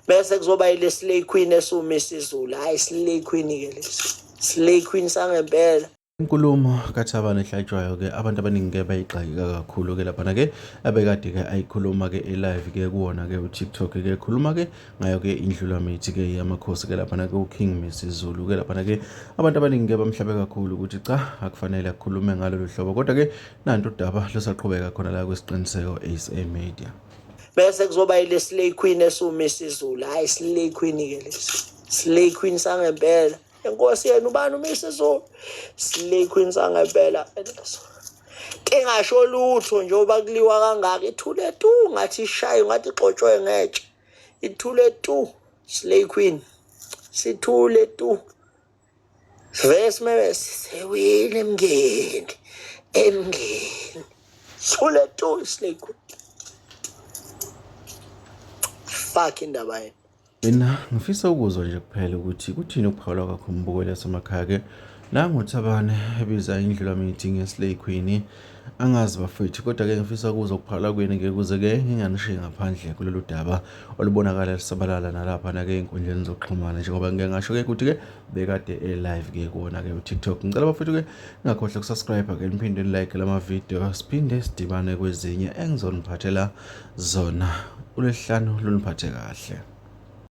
bese kuzoba ile slay queen esuma isizulu hayi slay queen ke lesi slay queen sangempela inkulumo kathabane ehlatshwayo ke abantu abaningi ke bayigxayika kakhulu ke laphana ke abekade ke ayikhuluma ke elive ke kuwona ke uTikTok ke khuluma ke ngayo ke indlula mithi ke yamakhosi ke laphana ke uKing Misi Zulu ke laphana ke abantu abaningi ke bamhlabe kakhulu ukuthi cha akufanele akhulume ngalolu hlobo kodwa ke Nanto udaba lusaqhubeka khona la kwesiqiniseko SA Media. Bese kuzoba ile slay queen esuma isizulu. Hayi slay queen ke lesi. Slay queen sangempela. Inkosi yenu ubani uma isizulu? Slay queen sangempela leso. Ingasho lutho nje uba kuliwa kangaka ithule tu ngathi ishaye ngathi igxotshwe ngetshe. Ithule tu slay queen. Sithule tu. Vese mebe sewile emngeni emngeni sule tu snake fuck indaba yini mina ngifisa ukuzwa nje kuphela ukuthi kuthini ukuphawula kwakho umbukeli yasemakhaya ke nangu Thabane ebiza indlulamithi ngeslay queen Angazi bafethu kodwa ke ngifisa ukuzwa ukuphala kwenu ke kuze ke nginganishiyi ngaphandle kulolu daba olubonakala lisabalala nalapha nake ey'nkundleni zokuxhumana njengoba ngike ngasho ke ukuthi ke bekade e-live ke kuwona ke uTikTok ngicela bafethu ke ngakhohle ukusubscribe ke niphinde nilike lama video siphinde sidibane kwezinye engizoniphathela zona ulesihlanu luniphathe kahle